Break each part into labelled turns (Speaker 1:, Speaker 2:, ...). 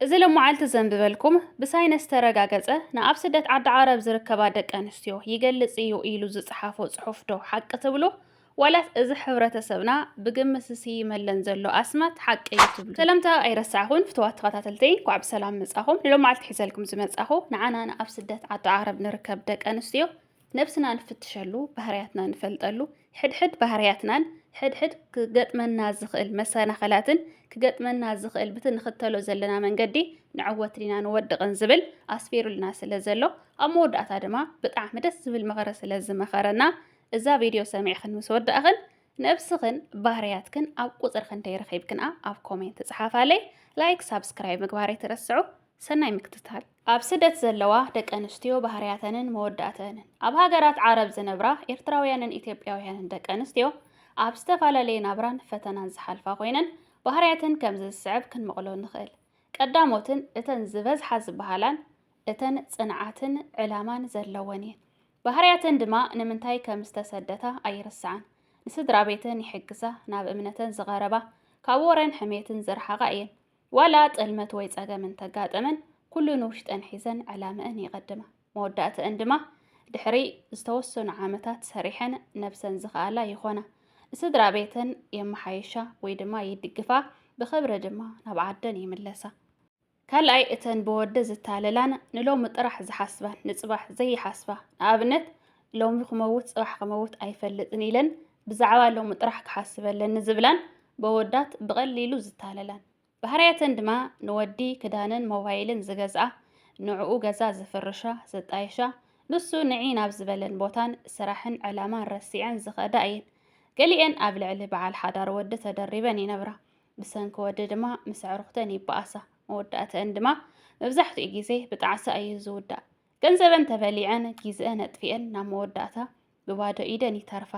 Speaker 1: እዚ ሎማዓልቲ ዘንብበልኩም ብሳይነስ ዝተረጋገፀ ንኣብ ስደት ዓዲ ዓረብ ዝርከባ ደቂ ኣንስትዮ ይገልፅ እዩ ኢሉ ዝፀሓፎ ፅሑፍ ዶ ሓቂ ትብሉ? ዋላስ እዚ ሕብረተሰብና ብግምት ዝስይመለን ዘሎ ኣስማት ሓቂ እዩ ትብሉ? ሰላምታ ኣይረሳዕኹን ፍትዋት ተኸታተልተይ እንኳዕ ብሰላም መፃኹም ንሎማዓልቲ ሒዘልኩም ዝመፃኹ ንዓና ንኣብ ስደት ዓዲ ዓረብ ንርከብ ደቂ ኣንስትዮ ነብስና ንፍትሸሉ፣ ባህርያትና ንፈልጠሉ፣ ሕድሕድ ባህርያትናን ሕድሕድ ክገጥመና ዝኽእል መሰናኸላትን ክገጥመና ዝኽእል ብቲ ንኽተሎ ዘለና መንገዲ ንዕወት ዲና ንወድቕን ዝብል ኣስፊሩልና ስለ ዘሎ ኣብ መወዳእታ ድማ ብጣዕሚ ደስ ዝብል ምኽሪ ስለ ዝመኸረና እዛ ቪድዮ ሰሚዕኽን ምስ ወዳእኽን ነብስኽን ባህርያትክን ኣብ ቁፅሪ ክንደይ ረኺብክንኣ ኣብ ኮሜንት ፀሓፋለይ ላይክ ሳብስክራይብ ምግባር ኣይትረስዑ ሰናይ ምክትታል። ኣብ ስደት ዘለዋ ደቂ ኣንስትዮ ባህርያተንን መወዳእተንን። ኣብ ሃገራት ዓረብ ዝነብራ ኤርትራውያንን ኢትዮጵያውያንን ደቂ ኣንስትዮ ኣብ ዝተፈላለየ ናብራን ፈተናን ዝሓልፋ ኮይነን ባህርያተን ከምዚ ዝስዕብ ክንመቕሎ ንኽእል። ቀዳሞትን እተን ዝበዝሓ ዝበሃላን እተን ጽንዓትን ዕላማን ዘለወን እየን። ባህርያተን ድማ ንምንታይ ከም ዝተሰደታ ኣይርስዓን። ንስድራ ቤተን ይሕግዛ፣ ናብ እምነተን ዝቐረባ፣ ካብ ወረን ሕሜትን ዝረሓቓ እየን። ዋላ ጥልመት ወይ ጸገም እንተጋጠመን ኩሉ ንውሽጠን ሒዘን ዕላመእን የቐድማ። መወዳእተእን ድማ ድሕሪ ዝተወሰኑ ዓመታት ሰሪሐን ነብሰን ዝኸኣላ ይኾና። ንስድራ ቤተን የመሓይሻ ወይ ድማ ይድግፋ፣ ብኽብሪ ድማ ናብ ዓደን ይምለሳ። ካልኣይ እተን ብወዲ ዝታለላን ንሎሚ ጥራሕ ዝሓስባን ንጽባሕ ዘይሓስባ ንኣብነት ሎሚ ክመውት ጽባሕ ክመውት ኣይፈልጥን ኢለን ብዛዕባ ሎሚ ጥራሕ ክሓስብ ኣለኒ ዝብላን በወዳት ብቐሊሉ ዝታለላን ባህርያተን ድማ ንወዲ ክዳንን ሞባይልን ዝገዝኣ ንዕኡ ገዛ ዝፍርሻ ዘጣይሻ ንሱ ንዒ ናብ ዝበለን ቦታን ስራሕን ዕላማን ረሲዐን ዝኸዳ እየን። ገሊኤን ኣብ ልዕሊ በዓል ሓዳር ወዲ ተደሪበን ይነብራ። ብሰንኪ ወዲ ድማ ምስ ኣዕሩኽተን ይበኣሳ። መወዳእተአን ድማ መብዛሕትኡ ግዜ ብጣዕሳ እዩ ዝውዳእ። ገንዘበን ተበሊዐን ጊዝአን ኣጥፊኤን ናብ መወዳእታ ብባዶ ኢደን ይተርፋ።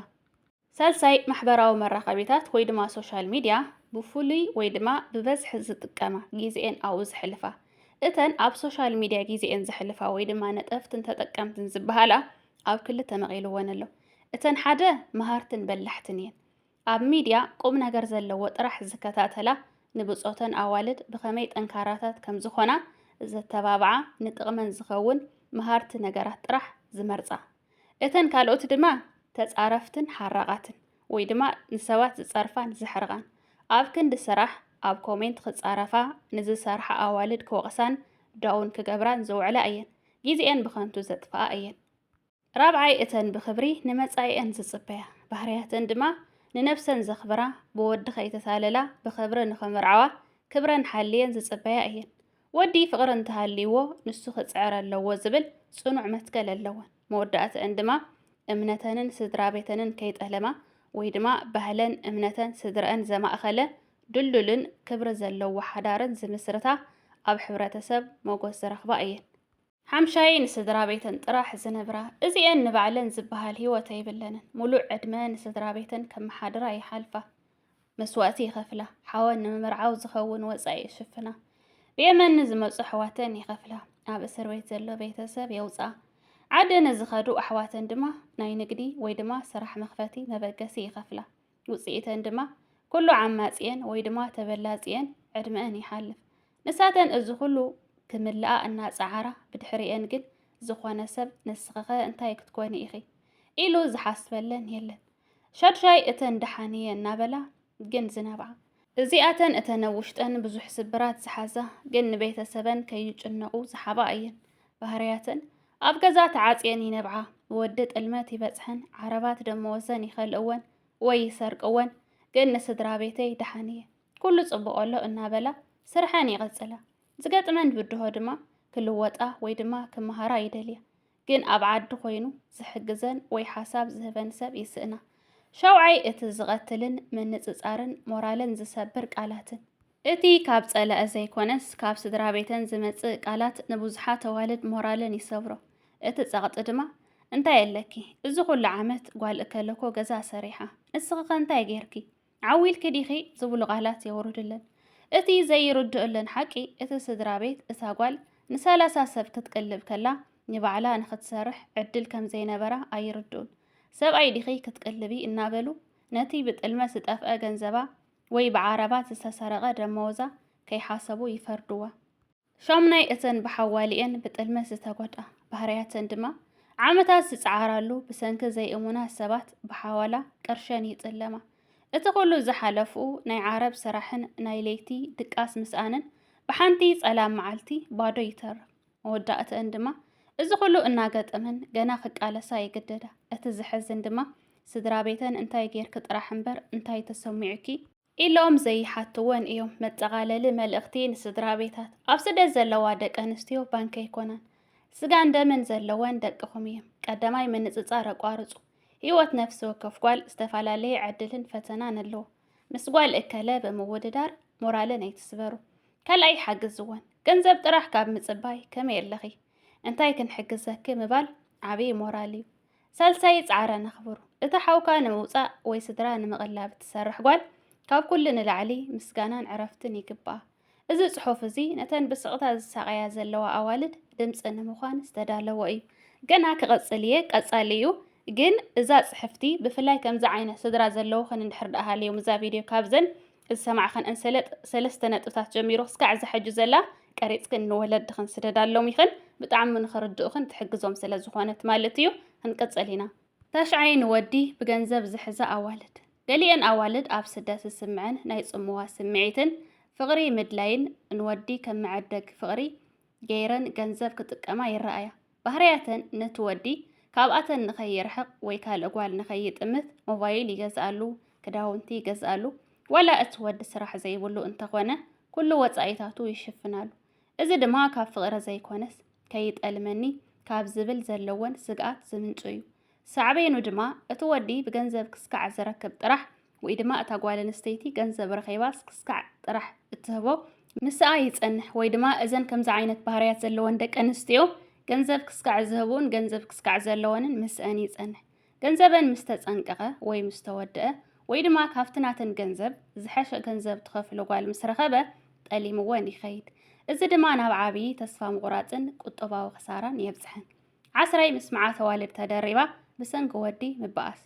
Speaker 1: ሳልሳይ ማሕበራዊ መራኸቢታት ወይ ድማ ሶሻል ሚድያ ብፍሉይ ወይ ድማ ብበዝሒ ዝጥቀማ ጊዝኤን ኣብኡ ዘሕልፋ። እተን ኣብ ሶሻል ሚድያ ጊዝኤን ዘሕልፋ ወይ ድማ ነጠፍትን ተጠቀምትን ዝበሃላ ኣብ ክልተ መቒልወን ኣሎ። እተን ሓደ መሃርትን በላሕትን እየን። ኣብ ሚድያ ቁም ነገር ዘለዎ ጥራሕ ዝከታተላ ንብፆተን ኣዋልድ ብኸመይ ጠንካራታት ከምዝኾና ዘተባብዓ ንጥቕመን ዝኸውን መሃርቲ ነገራት ጥራሕ ዝመርፃ እተን ካልኦት ድማ ተፃረፍትን ሓራቓትን ወይ ድማ ንሰባት ዝፀርፋን ዘሕርቓን ኣብ ክንዲ ስራሕ ኣብ ኮሜንት ክፃረፋ ንዝሰርሓ ኣዋልድ ክወቕሳን ዳውን ክገብራን ዝውዕላ እየን ጊዚኤን ብኸንቱ ዘጥፍኣ እየን። ራብዓይ እተን ብኽብሪ ንመጻኢኣን ዝጽበያ፣ ባህርያተን ድማ ንነብሰን ዘኽብራ፣ ብወዲ ከይተታለላ ብኽብሪ ንኽምርዓዋ ክብረን ሓልየን ዝጽበያ እየን። ወዲ ፍቕሪ እንተሃልይዎ ንሱ ክጽዕር ኣለዎ ዝብል ጽኑዕ መትከል ኣለወን። መወዳእትኣን ድማ እምነተንን ስድራቤተንን ከይጠለማ ወይ ድማ ባህለን እምነተን ስድረኣን ዘማእኸለ ድልዱልን ክብሪ ዘለዎ ሓዳርን ዝምስርታ ኣብ ሕብረተሰብ ሞጎስ ዝረኽባ እየን። ሓምሻይ ንስድራቤተን ጥራሕ ዝነብራ እዚኤን ንባዕለን ዝበሃል ሂወት ኣይብለንን ሙሉእ ዕድመ ንስድራቤተን ከመሓድራ ይሓልፋ መስዋእቲ ይኸፍላ ሓወን ንምምርዓው ዝኸውን ወፃኢ ይሽፍና ብየመን ንዝመፁ ኣሕዋተን ይኸፍላ ኣብ እስር ቤት ዘሎ ቤተሰብ የውፅኣ ዓዲ ንዝኸዱ ኣሕዋተን ድማ ናይ ንግዲ ወይ ድማ ስራሕ መኽፈቲ መበገሲ ይኸፍላ ውጽኢተን ድማ ኩሉ ዓማጺኤን ወይ ድማ ተበላጺኤን ዕድመኤን ይሓልፍ። ንሳተን እዚ ኩሉ ክምልኣ እናጸዓራ ብድሕሪኤን ግን ዝኾነ ሰብ ንስኺኸ እንታይ ክትኮኒ ኢኺ ኢሉ ዝሓስበለን የለን። ሻድሻይ እተን ደሓንየ እናበላ ግን ዝነብዓ። እዚኣተን እተን ኣብ ውሽጠን ብዙሕ ስብራት ዝሓዛ ግን ንቤተሰበን ከይጭነቑ ዝሓባ እየን። ባህርያተን ኣብ ገዛ ተዓጽየን ይነብዓ፣ ወዲ ጥልመት ይበጽሐን ዓረባት ደመወዘን ይኸልእወን ወይ ይሰርቅወን፣ ግን ንስድራ ቤተይ ደሓን እየ ኩሉ ጽቡቕ ኣሎ እናበላ ስርሐን ይቕጽላ። ዝገጥመን ብድሆ ድማ ክልወጣ ወይ ድማ ክመሃራ ይደልያ። ግን ኣብ ዓዲ ኮይኑ ዝሕግዘን ወይ ሓሳብ ዝህበን ሰብ ይስእና። ሻውዓይ እቲ ዝቐትልን ምንጽጻርን ሞራለን ዝሰብር ቃላትን። እቲ ካብ ጸላኢ ዘይኮነስ ካብ ስድራ ቤተን ዝመጽእ ቃላት ንብዙሓት ኣዋልድ ሞራለን ይሰብሮ። እቲ ጸቕጢ ድማ እንታይ ኣለኪ እዚ ኩሉ ዓመት ጓል እከለኮ ገዛ ሰሪሓ ንስኺኸ እንታይ ጌርኪ ዓው ኢልኪ ዲኺ ዝብሉ ቃላት የውርድለን። እቲ ዘይርድኡለን ሓቂ እቲ ስድራ ቤት እታ ጓል ንሰላሳ ሰብ ክትቅልብ ከላ ንባዕላ ንክትሰርሕ ዕድል ከም ዘይነበራ ኣይርድኡን። ሰብኣይ ዲኺ ክትቅልቢ እናበሉ ነቲ ብጥልመት ዝጠፍአ ገንዘባ ወይ ብዓረባት ዝተሰረቐ ደመወዛ ከይሓሰቡ ይፈርድዋ። ሻሙናይ እተን ብሓዋሊኤን ብጥልመት ዝተጎድኣ ባህርያተን ድማ ዓመታት ዝጸዓራሉ ብሰንኪ ዘይእሙናት ሰባት ብሓዋላ ቅርሸን ይጥለማ። እቲ ኩሉ ዝሓለፍኡ ናይ ዓረብ ስራሕን ናይ ለይቲ ድቃስ ምስኣንን ብሓንቲ ጸላም መዓልቲ ባዶ ይተርፍ። መወዳእተን ድማ እዚ ኩሉ እናገጠመን ገና ክቃለሳ ይግደዳ። እቲ ዝሕዝን ድማ ስድራ ቤተን እንታይ ጌርኪ ጥራሕ እምበር እንታይ ተሰሚዑኪ ኢሎም ዘይሓትወን እዮም። መጠቓለሊ መልእኽቲ ንስድራቤታት፣ ኣብ ስደት ዘለዋ ደቂ ኣንስትዮ ባንክ ኣይኮናን፣ ስጋን ደምን ዘለወን ደቅኹም እየም። ቀዳማይ ምንጽጻር ኣቋርጹ። ህይወት ነፍሲ ወከፍ ጓል ዝተፈላለየ ዕድልን ፈተናን ኣለዎ። ምስ ጓል እከለ ብምውድዳር ሞራለን ኣይትስበሩ። ካልኣይ ሓግዝወን። ገንዘብ ጥራሕ ካብ ምጽባይ ከመይ ኣለኺ እንታይ ክንሕግዘኪ ምባል ዓብዪ ሞራል እዩ። ሳልሳይ ጻዕራ ነኽብሩ። እቲ ሓውካ ንምውጻእ ወይ ስድራ ንምቕላብ እትሰርሕ ጓል ካብ ኩሉ ንላዕሊ ምስጋናን ዕረፍትን ይግብኣ። እዚ ጽሑፍ እዚ ነተን ብስቕታ ዝሳቐያ ዘለዋ ኣዋልድ ድምጺ ንምዃን ዝተዳለወ እዩ። ገና ክቐጽል እየ ቀጻሊ እዩ ግን እዛ ጽሕፍቲ ብፍላይ ከምዚ ዓይነት ስድራ ዘለውኽን እንድሕር ደኣ ሃልዮም እዛ ቪድዮ ካብዘን ዝሰማዕኽን እንሰለጥ ሰለስተ ነጥብታት ጀሚሩ ክስካዕ እዛ ሕጂ ዘላ ቀሪጽክን ንወለድኽን ስደዳሎም ኢኽን ብጣዕሚ ንኽርድኡኽን ትሕግዞም ስለ ዝኾነት ማለት እዩ ክንቅጽል ኢና። ታሽዓይ ንወዲ ብገንዘብ ዝሕዛ ኣዋልድ። ገሊኤን ኣዋልድ ኣብ ስደት ዝስምዐን ናይ ጽምዋ ስምዒትን ፍቕሪ ምድላይን ንወዲ ከም መዐደጊ ፍቕሪ ገይረን ገንዘብ ክጥቀማ ይረኣያ። ባህርያተን ነቲ ወዲ ካብኣተን ንኸይርሕቕ ወይ ካልእ ጓል ንኸይጥምት ሞባይል ይገዝኣሉ፣ ክዳውንቲ ይገዝኣሉ፣ ዋላ እቲ ወዲ ስራሕ ዘይብሉ እንተኾነ ኩሉ ወጻኢታቱ ይሽፍናሉ። እዚ ድማ ካብ ፍቕሪ ዘይኮነስ ከይጠልመኒ ካብ ዝብል ዘለወን ስግኣት ዝምንጩ እዩ። ሳዕቤኑ ድማ እቲ ወዲ ብገንዘብ ክስካዕ ዝረክብ ጥራሕ ወይ ድማ እታ ጓል ኣንስተይቲ ገንዘብ ረኺባስ ክስካዕ ጥራሕ እትህቦ ምስኣ ይጸንሕ ወይ ድማ እዘን ከምዚ ዓይነት ባህርያት ዘለወን ደቂ ኣንስትዮ ገንዘብ ክስካዕ ዝህቡን ገንዘብ ክስካዕ ዘለወንን ምስአን ይጸንሕ። ገንዘበን ምስ ተጸንቀቐ ወይ ምስ ተወድአ ወይ ድማ ካብቲ ናተን ገንዘብ ዝሐሸ ገንዘብ ትኸፍሎ ጓል ምስ ረኸበ ጠሊምወን ይኸይድ። እዚ ድማ ናብ ዓብዪ ተስፋ ምቑራጽን ቁጠባዊ ክሳራን የብጽሐን። ዓስራይ ምስ መዓት ኣዋልድ ተደሪባ ብሰንኪ ወዲ ምበኣስ።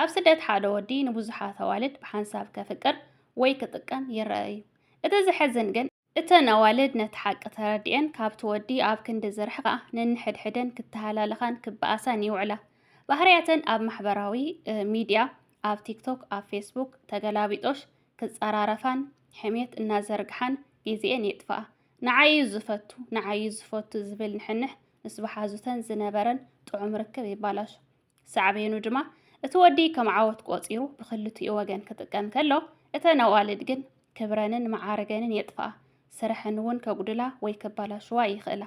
Speaker 1: ኣብ ስደት ሓደ ወዲ ንብዙሓት ኣዋልድ ብሓንሳብ ከፍቅር ወይ ክጥቀም ይረኣ እዩ። እቲ ዘሕዝን ግን፣ እተን ኣዋልድ ነቲ ሓቂ ተረዲኤን ካብቲ ወዲ ኣብ ክንዲ ዝርሕቓ ነንሕድሕደን ክተሃላለኻን ክበኣሳን ይውዕላ። ባህርያተን ኣብ ማሕበራዊ ሚድያ፣ ኣብ ቲክቶክ፣ ኣብ ፌስቡክ፣ ተገላቢጦሽ ክጸራረፋን ሕሜት እናዘርግሓን ግዜኤን የጥፍኣ። ንዓይ'ዩ ዝፈቱ ንዓይ'ዩ ዝፈቱ ዝብል ንሕንሕ ምስ በሓዙተን ዝነበረን ጥዑም ርክብ ይባላሾ። ሳዕቤኑ ድማ እቲ ወዲ ከም ዓወት ቆጺሩ ብክልቲኡ ወገን ክጥቀም ከሎ፣ እተን ኣዋልድ ግን ክብረንን መዓርገንን የጥፍኣ፣ ስረሐን እውን ከጉድላ ወይ ከባላሽዋ ይኽእላ።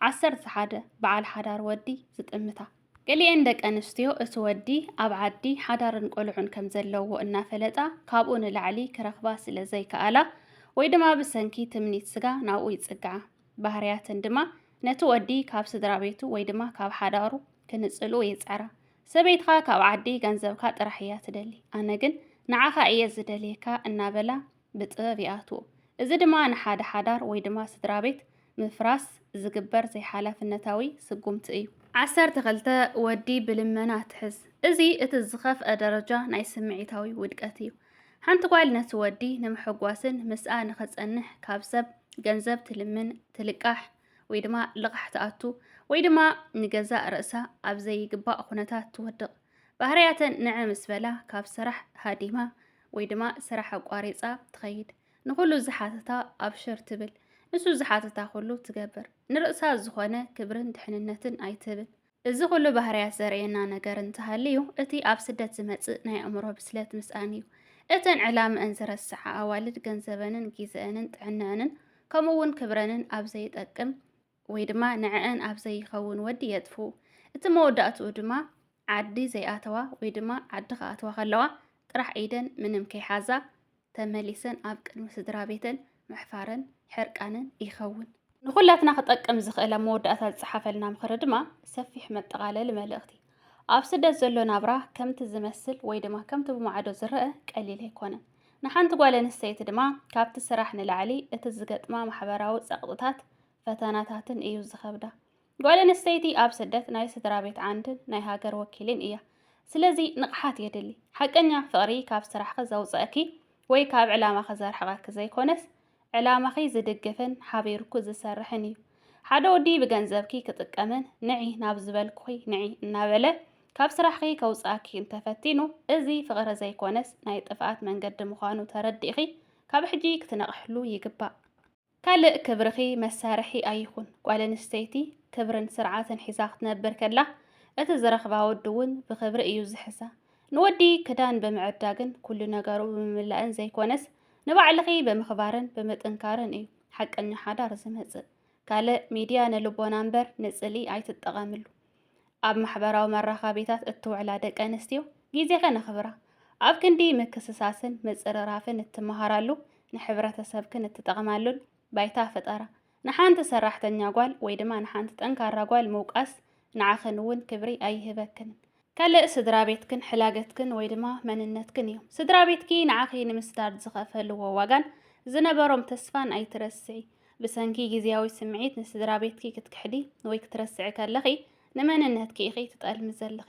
Speaker 1: ዓሰርተ ሓደ በዓል ሓዳር ወዲ ዝጥምታ። ገሊኤን ደቀንስትዮ እቲ ወዲ ኣብ ዓዲ ሓዳርን ቆልዑን ከም ዘለዎ እናፈለጣ ካብኡ ንላዕሊ ክረኽባ ስለ ዘይከኣላ ወይ ድማ ብሰንኪ ትምኒት ስጋ ናብኡ ይጽግዓ። ባህርያተን ድማ ነቲ ወዲ ካብ ስድራ ቤቱ ወይ ድማ ካብ ሓዳሩ ክንጽልኡ ይጽዕራ። ሰበይትኻ ካብ ዓዲ ገንዘብካ ጥራሕ እያ ትደሊ፣ ኣነ ግን ንዓኻ እየ ዝደልየካ እናበላ ብጥበብ ይኣትዉ። እዚ ድማ ንሓደ ሓዳር ወይ ድማ ስድራቤት ምፍራስ ዝግበር ዘይሓላፍነታዊ ስጉምቲ እዩ። ዓሰርተ ክልተ፣ ወዲ ብልመና ትሕዝ። እዚ እቲ ዝኸፍኣ ደረጃ ናይ ስምዒታዊ ውድቀት እዩ። ሓንቲ ጓል ነቲ ወዲ ንምሕጓስን ምስኣ ንኽጸንሕ ካብ ሰብ ገንዘብ ትልምን፣ ትልቃሕ፣ ወይ ድማ ልቓሕ ትኣቱ፣ ወይ ድማ ንገዛእ ርእሳ ኣብ ዘይግባእ ኩነታት ትወድቕ። ባህርያተን ንዕ ምስ በላ ካብ ስራሕ ሃዲማ ወይ ድማ ስራሕ ኣቋሪጻ ትኸይድ ንኹሉ ዝሓተታ ኣብሽር ትብል ንሱ ዝሓተታ ኩሉ ትገብር ንርእሳ ዝኾነ ክብርን ድሕንነትን ኣይትህብን እዚ ኩሉ ባህርያት ዘርእየና ነገር እንተሃልዩ እቲ ኣብ ስደት ዝመጽእ ናይ ኣእምሮ ብስለት ምስኣን እዩ እተን ዕላምአን ዝረስዓ ኣዋልድ ገንዘበንን ጊዘአንን ጥዕነአንን ከምኡውን ክብረንን ኣብ ዘይጠቅም ወይ ድማ ንዕእን ኣብ ዘይኸውን ወዲ የጥፍኡ። እቲ መወዳእትኡ ድማ ዓዲ ዘይኣተዋ ወይ ድማ ዓዲ ክኣተዋ ከለዋ ጥራሕ ኢደን ምንም ከይሓዛ ተመሊሰን ኣብ ቅድሚ ስድራ ቤተን ምሕፋረን ሕርቃንን ይኸውን። ንኹላትና ክጠቅም ዝኽእል ኣብ መወዳእታ ዝጸሓፈልና ምኽሪ ድማ ሰፊሕ መጠቓለሊ መልእኽቲ ኣብ ስደት ዘሎ ናብራ ከምቲ ዝመስል ወይ ድማ ከምቲ ብማዕዶ ዝረአ ቀሊል ኣይኮነን። ንሓንቲ ጓል ኣንስተይቲ ድማ ካብቲ ስራሕ ንላዕሊ እቲ ዝገጥማ ማሕበራዊ ጸቕጥታት ፈተናታትን እዩ ዝኸብዳ። ጓል ኣንስተይቲ ኣብ ስደት ናይ ስድራ ቤት ዓንድን ናይ ሃገር ወኪልን እያ። ስለዚ ንቕሓት የድሊ። ሓቀኛ ፍቕሪ ካብ ስራሕኺ ዘውፀእኪ ወይ ካብ ዕላማኺ ዘርሕቐኪ ዘይኮነስ ዕላማኺ ዝድግፍን ሓቢርኩ ዝሰርሕን እዩ። ሓደ ወዲ ብገንዘብኪ ክጥቀምን ንዒ ናብ ዝበልኩኺ ንዒ እናበለ ካብ ስራሕኺ ከውፅኣኪ እንተፈቲኑ እዚ ፍቕሪ ዘይኮነስ ናይ ጥፍኣት መንገዲ ምዃኑ ተረዲእኺ ካብ ሕጂ ክትነቕሕሉ ይግባእ። ካልእ ክብርኺ መሳርሒ ኣይኹን። ጓል ኣንስተይቲ ክብርን ስርዓትን ሒዛ ክትነብር ከላ እቲ ዝረኽባ ወዲ እውን ብክብሪ እዩ ዝሕሳ። ንወዲ ክዳን ብምዕዳግን ኩሉ ነገሩ ብምምላእን ዘይኮነስ ንባዕልኺ ብምኽባርን ብምጥንካርን እዩ ሓቀኛ ሓዳር ዝመጽእ። ካልእ ሚድያ ንልቦና እምበር ንጽልኢ ኣይትጠቐምሉ። ኣብ ማሕበራዊ መራኸቢታት እትውዕላ ደቂ ኣንስትዮ ግዜ ከነኽብራ፣ ኣብ ክንዲ ምክስሳስን ምጽርራፍን እትመሃራሉ፣ ንሕብረተሰብክን እትጠቕማሉን ባይታ ፍጠራ። ንሓንቲ ሰራሕተኛ ጓል ወይ ድማ ንሓንቲ ጠንካራ ጓል ምውቃስ ንዓኽን እውን ክብሪ ኣይህበክንን። ካልእ ስድራ ቤትክን ሕላገትክን ወይ ድማ መንነትክን እዮም። ስድራ ቤትኪ ንዓኺ ንምስዳድ ዝኸፈልዎ ዋጋን ዝነበሮም ተስፋን ኣይትረስዒ። ብሰንኪ ግዝያዊ ስምዒት ንስድራቤትኪ ክትክሕዲ ወይ ክትረስዒ ከለኺ ንመንነትኪ ኢኺ ትጠልሚ ዘለኺ።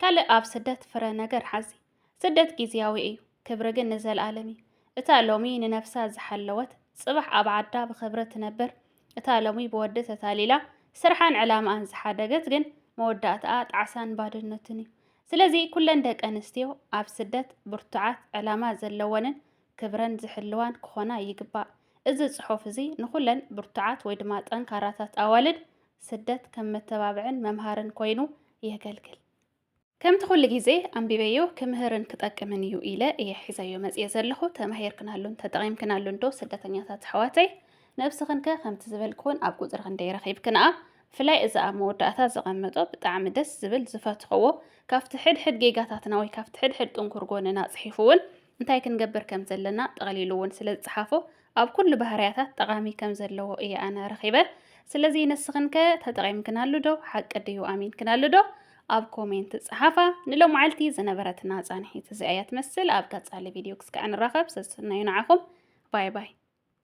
Speaker 1: ካልእ ኣብ ስደት ፍረ ነገር ሓዚ። ስደት ግዝያዊ እዩ፣ ክብሪ ግን ንዘልኣለም እዩ። እታ ሎሚ ንነብሳ ዝሓለወት ጽባሕ ኣብ ዓዳ ብኽብሪ ትነብር፣ እታ ሎሚ ብወዲ ተታሊላ ስርሓን ዕላምኣን ዝሓደገት ግን መወዳእትኣ ጣዕሳን ባዶነትን እዩ። ስለዚ ኩለን ደቀንስትዮ ኣብ ስደት ብርቱዓት፣ ዕላማ ዘለወንን ክብረን ዝሕልዋን ክኾና ይግባእ። እዚ ጽሑፍ እዚ ንኹለን ብርቱዓት ወይ ድማ ጠንካራታት ኣዋልድ ስደት ከም መተባብዕን መምሃርን ኮይኑ የገልግል። ከምቲ ኩሉ ግዜ ኣንቢበዮ ክምህርን ክጠቅምን እዩ ኢለ እየ ሒዘዮ መጽየ ዘለኹ። ተማሂርክናሉን ተጠቒምክናሉን ዶ ስደተኛታት ኣሕዋተይ? ነብስኽን ከ ከምቲ ዝበልክውን ኣብ ቁጽሪ ክንደይ ረኺብክንኣ? ብፍላይ እዚ ኣብ መወዳእታ ዘቐመጦ ብጣዕሚ ደስ ዝብል ዝፈትኸዎ ካብቲ ሕድሕድ ጌጋታትና ወይ ካብቲ ሕድሕድ ጥንኩር ጎንና ጽሒፉውን እንታይ ክንገብር ከም ዘለና ጠቕሊሉ እውን ስለ ዝጸሓፎ ኣብ ኩሉ ባህርያታት ጠቓሚ ከም ዘለዎ እየ ኣነ ረኺበ። ስለዚ ንስኽን ከ ተጠቒምክናሉ ዶ? ሓቂ ድዩ? ኣሚንክናሉ ዶ? ኣብ ኮሜንት ጸሓፋ። ንሎምዓልቲ ዝነበረትና ጻንሒት እዚኣ እያ ትመስል። ኣብ ቀጻሊ ቪድዮ ክስካዕ ንራኸብ። ሰስናዩ ንዓኹም። ባይ ባይ።